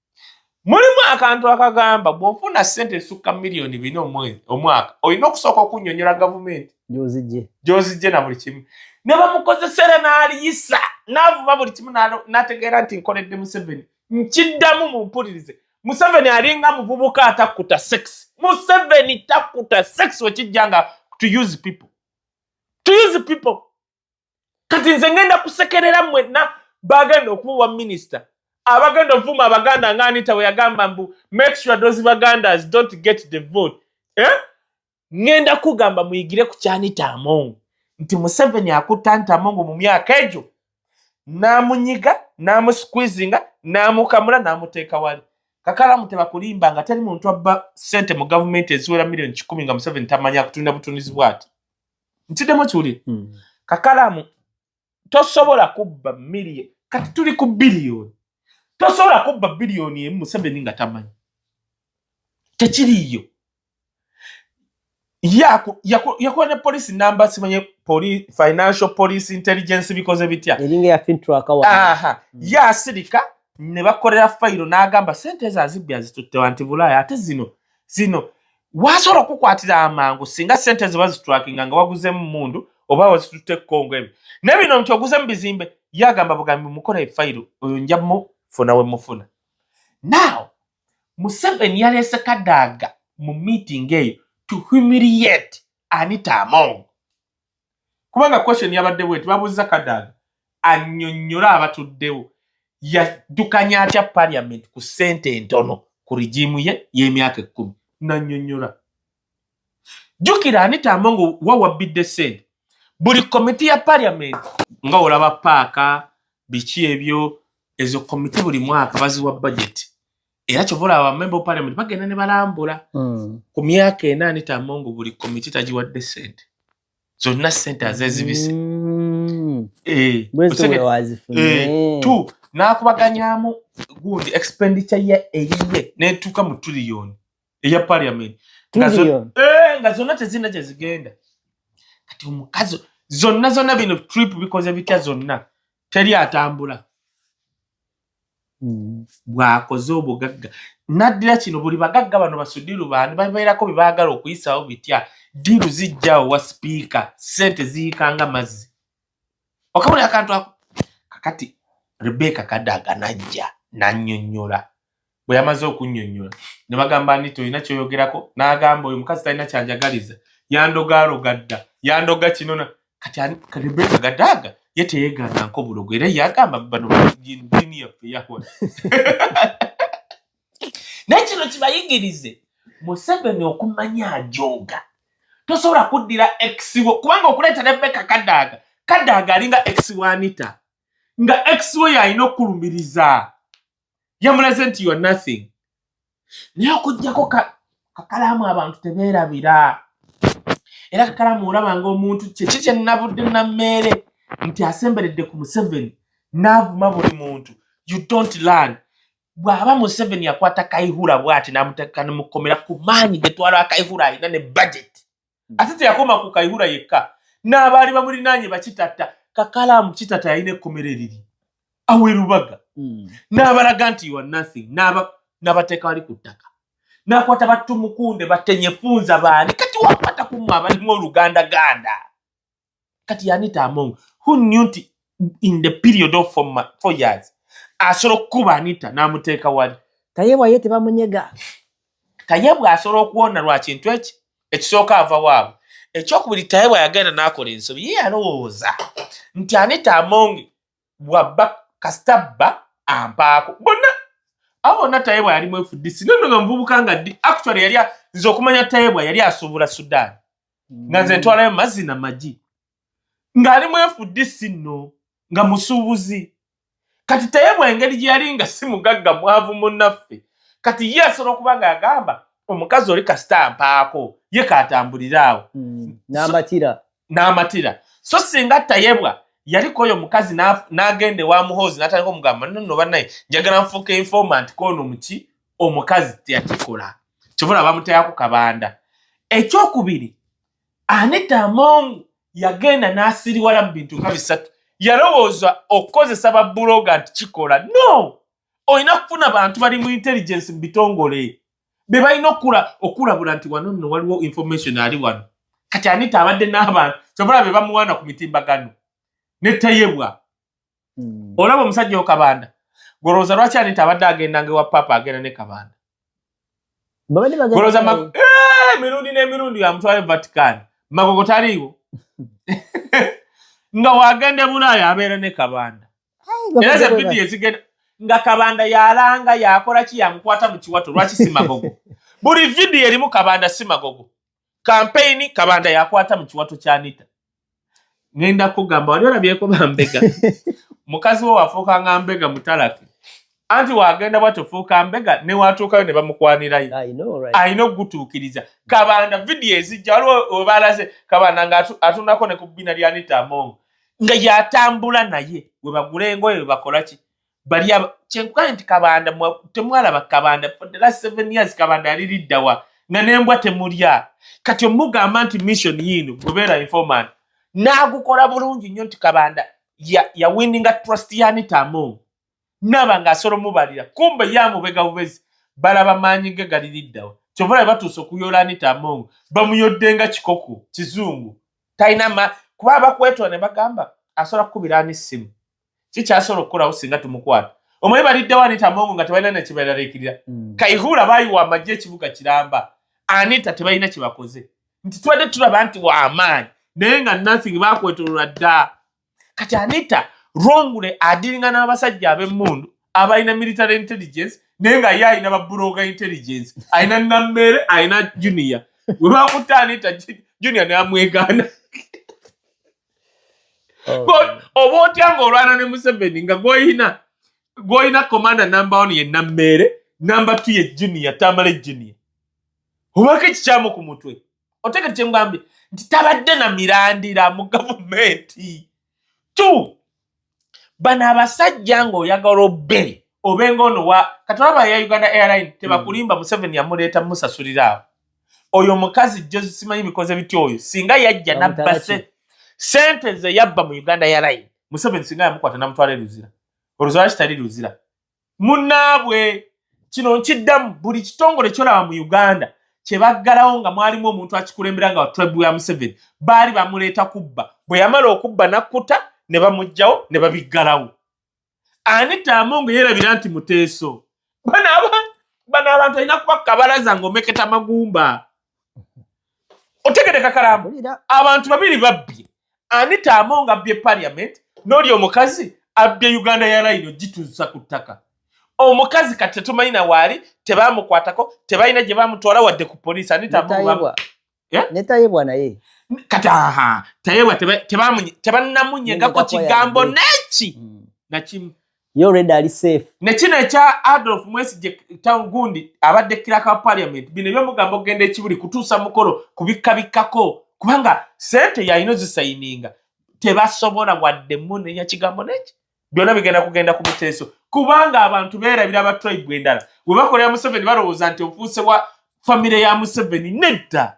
mulimu akantu akagamba bwofuna sente esukka miliyoni bina omwaka olina okusooka okunyonyola gavumenti gyozijje na buli kimu ne bamukozesera n'aliyisa n'avuma buli kimu n'ategeera nti nkoledde museveni nkiddamu mu mpulirize museveni alinga muvubuka atakkuta sex museveni takkuta sex wekijja nga to use people to use people kati nze ngenda kusekerera mwenna bagenda okuwa minisita abagenda ovuma abaganda nga anita weyagamba mbu make sure those bagandas don't get the vote eh? ngenda kugamba muyigire ku kyanita amongo nti museveni akutta nti amongo mu myaka egyo namunyiga namusquizinga namukamula namuteeka wali kakalamu tebakulimba nga teri muntu abba sente mu gavumenti eziwera milioni kikumi nga museveni tamanya kutunda butundizi bwati ntidemu kiwulire hmm. kakalamu tosobola kubba million kati tuli ku biliyoni tosobola kubba biliyoni emu museveni nga tamanyi tekiriyo yakuba ne polisi namba simanye financial police intelligence bikoze bitya hmm. yasirika ne bakolera fayiro n'agamba sente ezo azibbi azituttewa nti bulaaya ate zino zino wasobola okukwatira amangu singa sente ziba zitwakinga nga waguzemu mundu oba wazitutte kongo emi naye bino nti oguzemu bizimbe ye agamba bugambi mukola efayiro oyo nja mufuna we mufuna now museveni yaleese kadaaga mu meeting eyo to humiliate anita among kubanga question yabadde bweti babuuzza kadaga annyonnyole abatuddewo yaddukanya atya parliament ku ssente entono ku rigimu ye y'emyaka ekkumi nannyonnyola jjukira anitamba nga wawabbidde ssente buli komiti ya parliament nga olaba paaka biki ebyo ezo komiti buli mwaka baziwa bajeti era kyova olaba bamemba opalement bagenda ne balambula hmm. ku myaka ena nitamongo buli komiti tagiwadde sente zonna sente azezibise hmm. eh, eh, nakubaganyamu gundi expenditure ye eyiye netuuka mu tuliyoni eya parliament eh, nga zonna tezirina gyezigenda kati omukazi zonna zonna bino trip bikoze bitya zonna teri atambula mm. bwakoze obugagga naddira kino buli bagagga bano basudiru bandi babeerako bye baagala okuyisaawo bitya diiru zijjawo wa sipiika ssente ziyikanga mazzi okabuli akantu ako kakati rebeka kadaga najja nanyonyola bwe yamaze okunnyonnyola ne bagamba nti tolina kyoyogerako n'agamba oyo mukazi talina kyanjagaliza yandogaaloga dda yandoga kino kati rebeka gadaaga ye teyeegaananko bulogo era yagamba bano ddiini yaffe yahwa naye kino kibayigirize museveni okumanya ajooga tosobola kuddira exiwo kubanga okuleeta rebeka kadaaga kadaaga alinga exiwo anita nga exiwo yalina okulumiriza yamulaze nti you are nothing naye okujjako kakalaamu abantu tebeerabira era kakalaamu olaba nga omuntu kyeki kye nnabudde nammeere nti asemberedde ku museveni n'avuma buli muntu you don't learn bw'aba museveni yakwata kaihura bwati n'amuteeka ne mu kkomera ku maanyi getwala kaihura alina ne budget ate teyakoma ku kaihura yekka n'abaali bamulinaanye bakitatta kakalaamu kitata yalina ekkomero eriri awerubaga hmm. n'abalaga nti wa nothing n'abateeka bali ku ttaka n'akwata battumukunde batenyefunza baani kati wakwata kumwe abalimu oluganda ganda kati yanita among who knew nti in the period of four, ma- four years asobola okukuba anita n'amuteeka wali tayebwa ye tebamunyega tayebwa asobola okuwona lwa kintu eki ekisooka ava waabwe ekyokubiri tayebwa yagenda n'akola ensobi ye yalowooza nti anita among bwabba kasita bba ampaako bonna abo bonna tayebwa yali mwefudisi nono nga muvubuka nga ddi actually yali a- nze okumanya tayebwa yali asuubula sudan nga nze ntwalayo mazzi na magi ng'ali mwefudde si nno nga musuubuzi kati teyebwa engeri gye yali nga si mugagga mwavu munnaffe kati ye asobola okuba ng'agamba omukazi oli kasita mpaako ye kaatambulire awo mm, n'amatira n'amatira so singa tayebwa yaliko oyo omukazi n'agenda ewa muhoozi n'atandika omugamba nonno bannaye njagala nfuuka informant koono muki omukazi teyakikola kyobola bamutaya ku kabanda ekyokubiri anita among yagenda n'asiriwala mu bintu nga bisatu yalowooza okukozesa babuloga nti kikola no olina kufuna bantu bali mu intelligence mu bitongole be balina okula okulabula nti wano nno waliwo information ali wano kati anita abadde n'abantu kyobola be bamuwaana ku mitimbagano netayebwa mm. olaba omusajja okabanda golowoza lwaki anita abadde agendanga ewa papa agenda ne kabanda eh, mirundi n'emirundi yamutwale vatican magogo taliiwo nga wagenda bulaaya abeera ne kabanda era ze vidiyo ezigenda nga kabanda yalanga yakola ki yamukwata mu kiwato lwaki simagogo buli vidiyo erimu kabanda simagogo kampeyini kabanda yakwata mu kiwato kya nita ngenda kugamba wali olabyeko bambega mukazi we wafuuka nga mbega mutalaki anti wagenda bwatyo fuuka mbega newatuukayo ne bamukwanirayo alina okugutuukiriza kabanda vidiyo ezijja waliwo webalaze kabanda nga atunako ne ku bbina lya nita amongo nga yatambula naye webagula engoye webakolaki bali kyenkugambye nti kabanda temwalaba kabanda for the last seven years kabanda yali liddawa nga nembwa temulya kati omugamba nti mission yiino gwebeera informant n'agukola bulungi nnyo nti kabanda yawininga ya trust yanitamo naba ng'asobola omubalira kumbe ye amubega bubezi balaba maanyi ge gali liddawa kyova labe batuuse okuyoola anitamo bamuyodde nga kikoko kizungu talina kuba abakwetonda ne bagamba asobola kukubira ani ssimu kikyasobola okukolawo singa tumukwata omwe baliddewo anita mongo nga tebalina nekibeeraliikirira hmm. kaihuula baayiwa amagye ekibuga kiramba anita tebalina kyebakoze nti tubadde tulaba nti wamaanyi naye nga nothing bakwetolola dda kati anita rongule adiringa n'abasajja ab'emmundu abalina military intelligence naye nga ye alina babuloga intelligence alina nammere alina junior webakutte anita junior neamwegaana oh. oba otya ngaolwana ne museveni nga gwolina gwolina komanda namba one ye nammeere namba two ye junia tamale junia obako ekikyamu ku mutwe otegete kyemugambye nti tabadde na mirandira mu gavumenti tu bano abasajja ng'oyagala obbe obe ng'ono wa katolaba ya uganda airline hmm. tebakulimba museveni yamuleeta musasulira awo oyo omukazi josimanyi bikoze bitya oyo singa yajja nabba sente ze yabba mu uganda airline museveni singa yamukwata namutwala eruzira oluzira kitali luzira munnaabwe kino nkiddamu buli kitongole kyolaba mu uganda kyebaggalawo nga mwalimu omuntu akikulembera nga watribe wa museveni baali bamuleeta kubba bwe yamala okubba nakkuta ne bamugjawo ne babiggalawo ani taamu nga yeerabira nti muteeso bano abantu alina kuba kabalaza nga omeketa magumba otegede kakalamu abantu babiri babbye anita amonga abbye parliament noli omukazi abbye uganda ya layino gituusa ku ttaka omukazi kati tetumanyi na waali tebamukwatako tebalina gye bamutwala wadde ku poliisi anita amonga eh? netayebwa naye kati aha tayebwa tebanamunyegako kigambo neki mm. nakimu Yo already ali safe. Ne kino ekya Adolf Mwesigye town gundi abadde kira ka parliament bino byo mugambo gende kibuli kutusa mukolo kubikka bikkako kubanga sente ya ino zisayininga tebasobola wadde mune ya kigambo neki byona bigenda kugenda ku muteso kubanga abantu bera bira ba tribe bwendala we bakolera Museveni balowooza nti ofuuse wa family ya Museveni nedda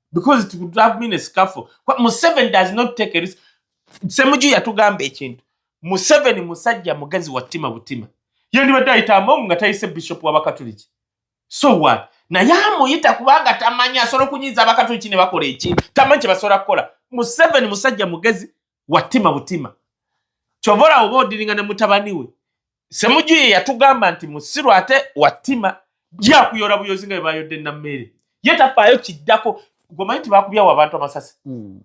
because it would have been a scuffle Kwa, Museven does not take a risk Semuju yatugamba ekintu Museven musajja mugazi wa tima butima yendi wadda ita amongu nga taise bishop wa bakatuliki so what na yamu yita kubanga tamanya soro kunyiza bakatuliki ne bakore ekintu tamanche basora kola Museven musajja mugazi watima butima kyova olaba oba odiringa ne mutabani we semuju ye yatugamba nti musiru ate watima byakuyola buyozi nga bebayodde nammeere ye tafaayo kiddako gomanyi nti bakubyawo abantu amasasi hmm.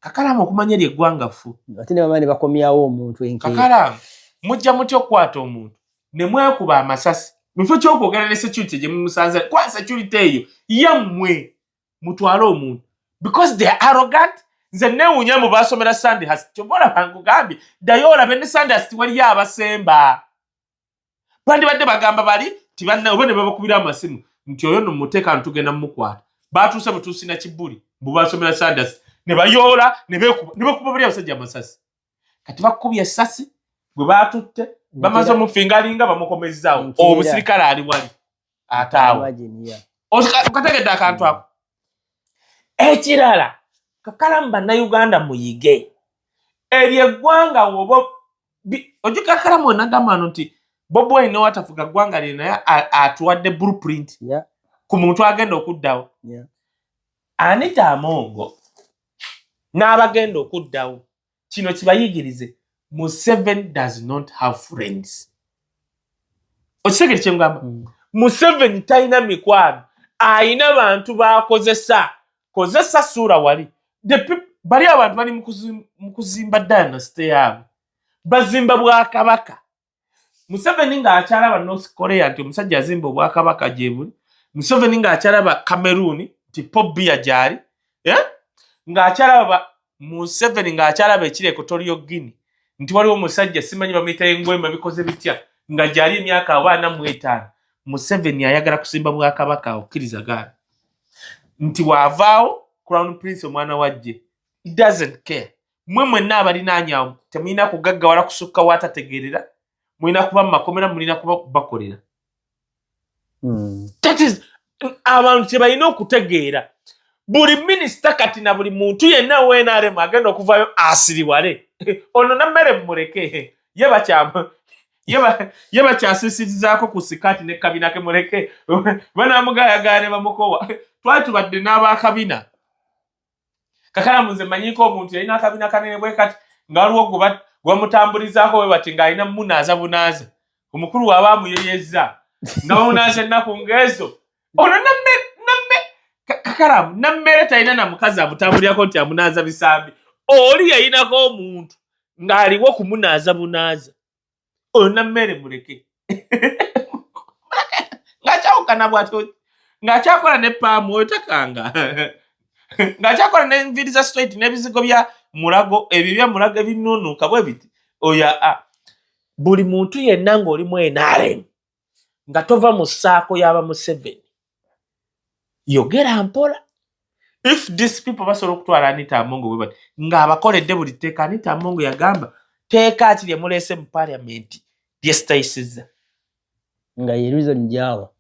kakalamu okumanya eri eggwanga ffu ate nebamaa ne bakomyawo omuntu kakalamu mujja mutya okukwata omuntu ne mwekuba amasasi mufo kyokwogera ne security gye mumusanza kwa security eyo yammwe mutwale omuntu because they are arrogant nze newunya mu basomera sande hasi kyova olaba nkugambye ddayo olabe ne sande hasi tiwaliyo abasemba bandibadde bagamba bali tibanna oba ne babakubira amasimu nti oyo no muteeka ntugenda mumukwata batuuse butuusi na kibuli mbu basomera sande hasi ne bayoola ne bekuba buli abasajja amasasi kati bakubye esasi gwe batutte bamaze omufingalinga bamukomezzawo omusirikale ali wali ate awo okategedde akantu ako ekirala kakalamu bannayuganda muyige eryo eggwanga woba ojukakalamu wenagambano nti bobi wine watafuga ggwanga lye naye atuwadde blueprint ku muntu agenda okuddawo anita amongo n'abagenda okuddawo kino kibayigirize museven does not have friends okitegere kyengamba mm. museven talina mikwano ayina bantu bakozesa kozesa suura wali bali abantu bali mukuzimba dynasty yaabwe bazimba bwakabaka museveni ng'akyalaba north korea nti omusajja azimba obwakabaka gyebuli museveni ng'akyalaba cameroon nti pobia gyali eh? ng'akyalaba museveni ng'akyalaba ekireko tolio guini nti waliwo omusajja simanyi bamuyita engwema bikoze bitya nga gyali emyaka abaana mu etaano museveni ayagala kusimba bwakabaka okkiriza gaana nti waavaawo crown prince omwana wajje doesn't care mwe mwenna abalinaanyawo temulina kugaggawala kusukka waatategeerera mulina kuba mu makomera mulina kuba bakolera hmm. abantu kyebalina okutegeera buli minisita kati na buli muntu yenna wenaremu agenda okuvayo asiriwale ono nammere mumuleke ye bakyamu ye bakyasisirizaako ku sikaati ne kabina ke muleke banamugayagaane bamukowa twali tubadde n'abakabina kakalamu nze manyiko omuntu yalina akabina kanene bwe kati nga waliwo gwebamutambulizaako we bati ng'alina munaaza bunaaza omukulu waaba amuyeyezza nga bamunaaza ennaku ng'ezo ono namme namme kakalamu nammere talina na mukazi amutambulirako nti amunaaza bisambi oli yayinako omuntu ng'aliwo kumunaaza bunaaza oyo nammere muleke ngakyawukana bwati ngakyakola ne paamu oyo takanga ngakyakola nenviri za straight nebizigo bya mulago ebyo bya mulago ebinunuka bwe biti oyo a buli muntu yenna ngaoli mu nrm nga tova mu saako yaba museveni yogera mpola if this people basobola okutwala anita amongo webati ngaabakoledde buli tteeka anita amongo yagamba teeka ki lyemuleese mu paliamenti lyesitayisiza nga yerizon jawa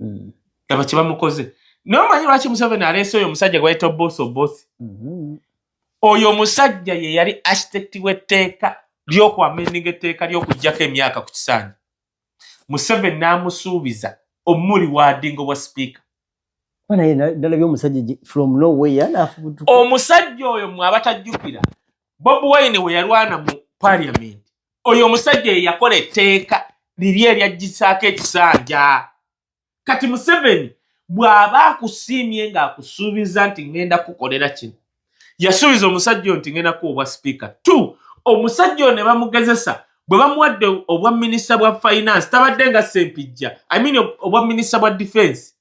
mm. aba kyebamukoze naye omanyi lwaki museveni aleese oyo omusajja gwayita obosi obosi mm -hmm. oyo omusajja ye yali architect w'etteeka ly'okwamendinga etteeka ly'okugyako emyaka ku kisaanyi museveni n'amusuubiza omuli waadinga obwa sipiika omusajja oyo mwe abatajjukira bob wine we yalwana mu paliamenti oyo omusajja ye yakola etteeka liri eryajjisaako ekisanja kati museveni bw'aba akusiimye ng'akusuubiza nti ŋŋenda kukolera kino yasuubiza omusajja oyo nti ŋŋenda kuwa obwa sipiika t omusajja oyo ne bamugezesa bwe bamuwadde obwa minisita bwa finance tabadde nga sempijja i mean obwa minisita bwa defense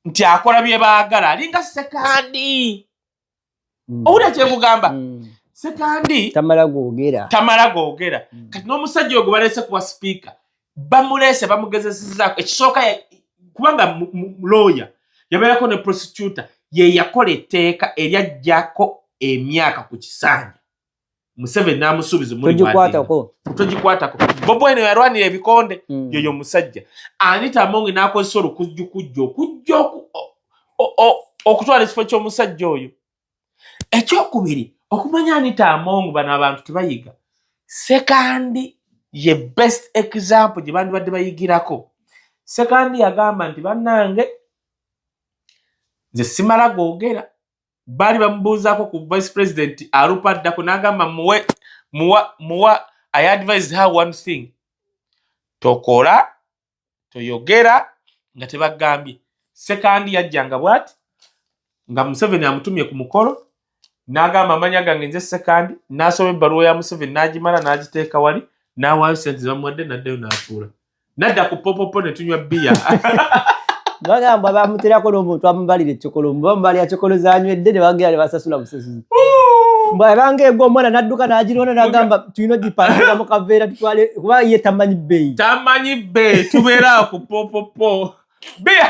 nti akola bye baagala alinga sekandi mm. owulira kyekugamba mm. sekandi tamala gogera tamala gogera mm. kati n'omusajja ogwo balese kuwa sipiika bamulese bamugezesezako ekisooka kubanga looya yabeerako ne prosecuta ye yakola etteeka eryajjako emyaka ku kisanja museveni namusuubiza mutogikwatako bobi wine yalwanira ebikonde mm. yoyo musajja anita amonge nakozesa olukujjukujja okujja okutwala ekifo kyomusajja oyo ekyokubiri okumanya anita amongu bano abantu tebayiga sekandi ye best example gye bandibadde bayigirako sekandi yagamba nti bannange nze simala googera baali bamubuuzaako ku vice president alupa addako n'agamba muwe muwa muwa i advise her one thing tokola toyogera nga tebagambye sekandi yajjanga bwati nga museveni amutumye ku mukolo n'agamba amanya gange nze sekandi n'asoma ebbaluwa ya museveni n'agimala n'agiteeka wali n'awaayo sente zamuwadde n'addayo n'atuula nadda ku popopo ne tunywa bbiya bagamba bamuterako n'omuntu amubalira ekikolo mba mubalira kikolo zanywedde ne bagera ne basasula busasuzi bwabanga egwa omwana nadduka nagirona nagamba tulina ogipangisa mu kaveera tutwale kuba ye tamanyi bbeeyi tamanyi bbeeyi tubeera ku popopo bbiya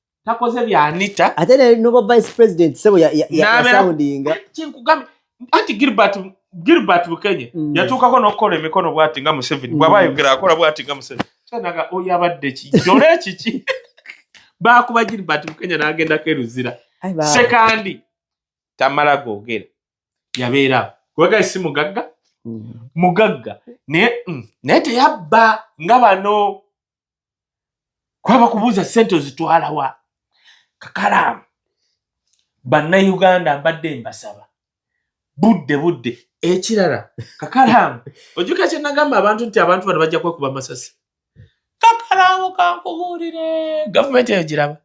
takoze bya Anita ate ne nobo vice president sebo ya ya, ya, ya soundinga kinkugambye anti Gilbert Gilbert Bukenye mm. yatuukako n'okukola emikono bwati nga Museveni mm. bw'aba ayogera akola bwati nga Museveni kyenaga oyo abadde ki jole ekiki baakuba Gilbert Bukenye n'agendako eruzira sekandi tamala googera yabeera kubaga si mugagga mm. mugagga naye mm, naye teyabba nga bano kwaba kubuuza sente ozitwalawa kakalaamu bannayuganda mbadde mbasaba budde budde ekirala kakalaamu ojuka kyenagamba abantu nti abantu bano bajja kwekuba masasi kakalaamu kankubuulire gavumenti eyo giraba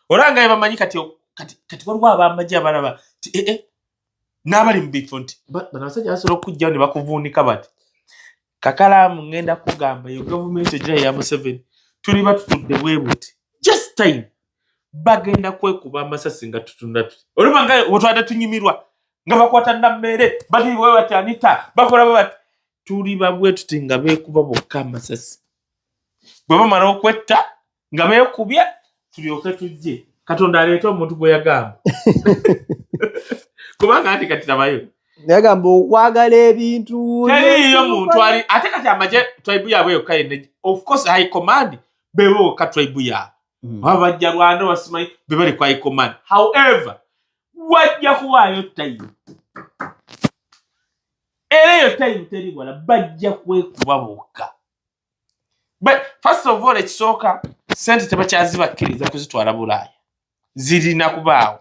olanga yabamanyi kati kati kati waliwo abamagye abalaba ti ee eh, eh, n'abali mu bifo nti bano abasajja basobola okukujjawo ne bakuvuunika bati kakalaamu ŋŋenda kugamba eyo gavumenti egira eya museveni tuli batutudde bwe buti just time bagenda kwekuba amasasi nga tutunda tuti oluba nga wetwade tunyumirwa nga bakwata nammeere baliwe bati anita bakola bwe bati tuli babwe tuti nga beekuba bokka amasasi bwe bamala okwetta nga beekubya tulyoke tujje katonda aleeta omuntu gwe yagamba kubanga ati kati nabayo yagamba okwagala ebintu teriiyo muntu ali ate kati amaje tribe yaabwe yokka yenne of course high command beboka tribe yaabwe hmm. oba bajja rwanda basimanyi be bali ku high command however wajja kuwaayo tayimu era eyo tayimu teri wala bajja kwekuba bokka first of all ekisooka sente tebakyazibakkiriza kuzitwala bulaaya zirina kubaawo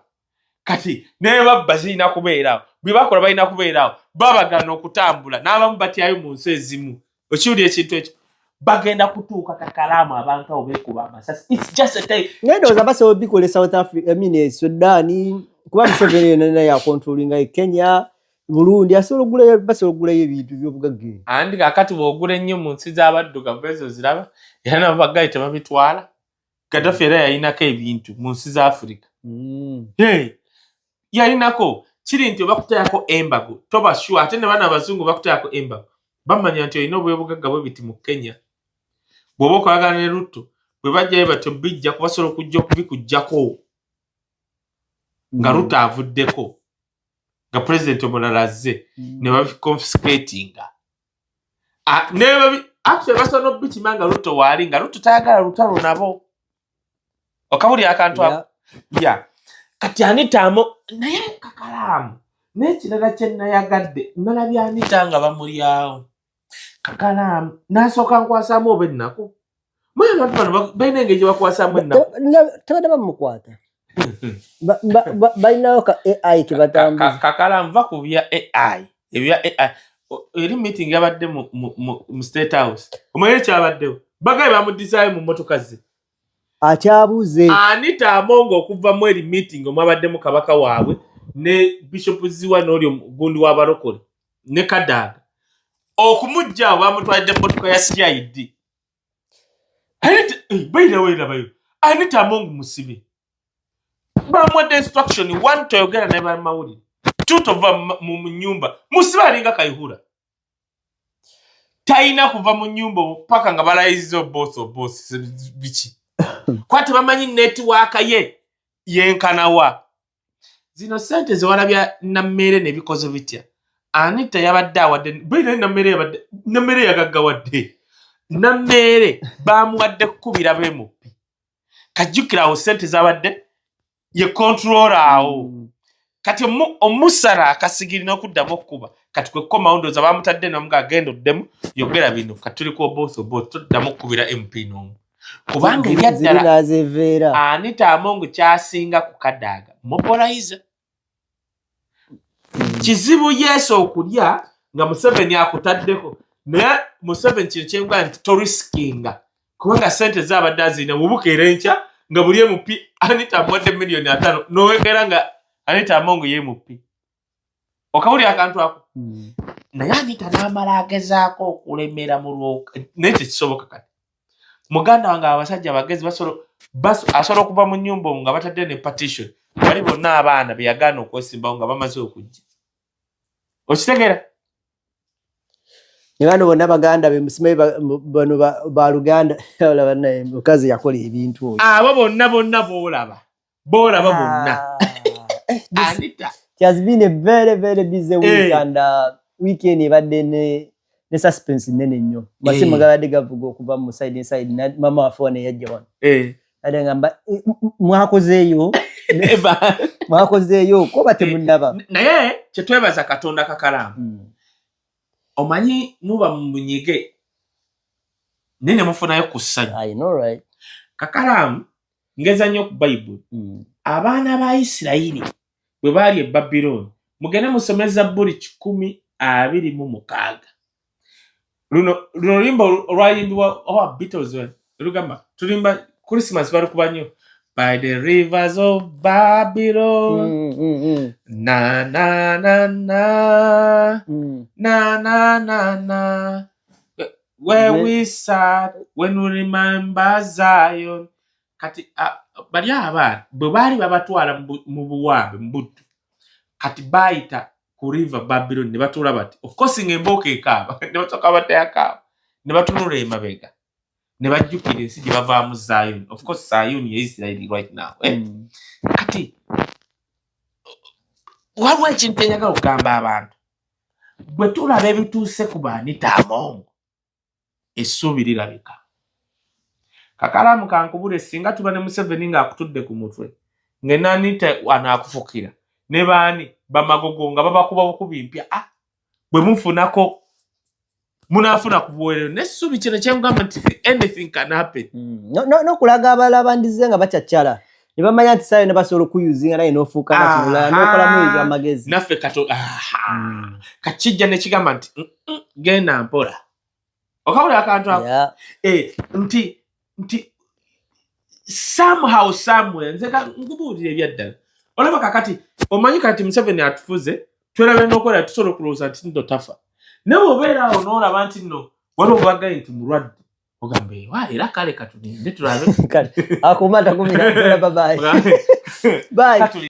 kati nebabba zirina kubeeraawo bwebakola balina kubeeraawo babagana okutambula n'abamu batyayo mu nsi ezimu okiwuli ekintu ekyo bagenda kutuuka kakalaamu abantu abo bekuba amasasinedoza basobola bikola e south africa emine e sudan kuba museveni yonana yakontrolinga e kenya bulungi asobola okugulayo basobola okugulayo ebintu byobugagga ebyo andi kakati bwogula ennyo mu nsi z'abaddugavu ezo ziraba era nabo baggayi tebabitwala gaddafi era yalinako ebintu mu nsi za afirika mm. yalinako kiri nti obakutayako embago toba sure ate ne bana abazungu bakutayako embago bamanya nti olina obwebugagga bwe biti mu kenya bw'oba okolagana ne lutto bwe bajjayo batyo bijja kubasobola okujja okubikujjako nga mm. lutto avuddeko nga president omulala azze mm. ne babiconfiscatinga ah, actually basobola nokubikima nga lutto waali nga lutto tayagala lutalo nabo okabuli akantu ya kati anitamo naye kakalaamu n'ekirala kye nayagadde nalabye anita nga bamulyawo kakalaamu n'asooka nkwasaamu oba ennaku mwe abantu bano balina engeri gye bakwasaamu ennaku tebadde bamukwata balinawo ka ai kebatambuza kakalaamu va ku bya ai ebya ai eri meeting yabadde mu state house omanyi ekyabaddewo bagaye bamudizaayo mu mmotoka ze akyabuuze ani taamonga okuva mu eri meeting omwabaddemu kabaka waabwe ne bishop ziwa n'oli omugundi w'abalokole ne kadaga okumujja awo bamutwalidde motoka ya cid eh, bairaweirabayo anita among musibe bamuwadde instruction one toyogera naye bamawulire two tova mu nyumba musibe alinga kaihura talina kuva mu nyumba paka nga balayiza oboth oboth biki kuba tebamanyi netiwaaka ye yenkanawa zino sente zewalabya nammeere nebikozo bitya anita yabadde awadde bwinaye nammeere yabadde nammeere yagaggawadde nammeere bamuwadde kukubira bemupi kajjukira awo sente zabadde ye kontrola awo mm. kati omusala akasigiri nokuddamu okukuba kati kwekomawo ndooza bamutadde nomu nga agenda oddemu yogera bino kati tuli ku oboth oboth toddamu okukubira mp nomu kubanga ebyaddala anita amongu kyasinga ku kadaaga mubolayiza kizibu yesu okulya nga museveni akutaddeko naye museveni kino kyengwa nti torisikinga kubanga sente zabadde azirina mubukeera enkya nga buli emupi anita amuwadde miliyoni atano nowekera nga anita amongu yemupi okawulira akantu ako hmm. naye anita n'amala agezaako okulemera mu lwoka naye tekisoboka kati muganda wange abasajja abagezi asobola okuva mu nyumba omu nga batadde ne partition bali bonna abaana beyagaana okwesimbawo nga bamaze okujja okitegera nebano bonna baganda bemusimayi bano baluganda olaba naye mukazi yakola ebintu oyo abo bonna bonna boolaba b'olaba ah. bonna eh, anita she has been a very very busy week hey. Eh. and uh, weekend ebadde ne ne suspense nene nnyo eh. masimu hey. gabadde gavuga okuva mu side inside mama wafe wano eyajja wano hey. ade ngamba mwakozeeyo mwakozeeyo koba temunaba naye kyetwebaza katonda kakalaamu mm. omanyi muba munyige naye nemufunayo ku ssanyu right. kakalaamu ngeza nnyo ku bayibuli mm. abaana ba isirayiri bwe baali e babilooni mugende musome zabbuli kikumi abiri mu mukaaga luno luno limba olwayimbibwa oba beatles lugamba tulimba christmas balukuba nnyo by the rivers of babylon mm, mm, mm. na na na na mm. na na na na Where Amen. we sat when we remember Zion. Kati uh, bali abaana bwe baali babatwala mu buwambe mu buddu kati baayita ku river Babylon ne batuula bati of course nga embooko ekaaba ne basooka batayakaaba ne batunula emabega ne bajjukira ensi gye bavaamu Zion of course Zion ye Israeli right now eh? mm. kati waliwo ekintu enjagala okugamba abantu bwe tulaba ebituuse ku baanita amongo essuubi lirabika kakalaamu kankubule singa tuba ne museveni ng'akutudde ku mutwe ngenanita anaakufukira ne baani bamagogo nga babakuba bukubi mpya a ah, bwe mufunako munafuna ku buweerero n'essuubi kino kyengamba nti anything can happen mm. n'okulaga abala bandize nga bacaccala ne bamanya nti saayo nebasobola okuyuzinga naye n'ofuuka nakirulala n'okolamu ebyamagezi naffe kato mm. kakijja nekigamba nti mm, mm, genda mpola okabula akantu ako eh, nti nti somehow somewhere nze nkubuulira ebyaddala olaba kakati omanyi kati museveni atufuze twerabe nokola tusobola okulowooza nti nno tafa naye obeera awo noolaba nti nno wali obagaye nti mulwadde ogamba ewa era kale katulinde tulabe kale akuuma takumira babaye baye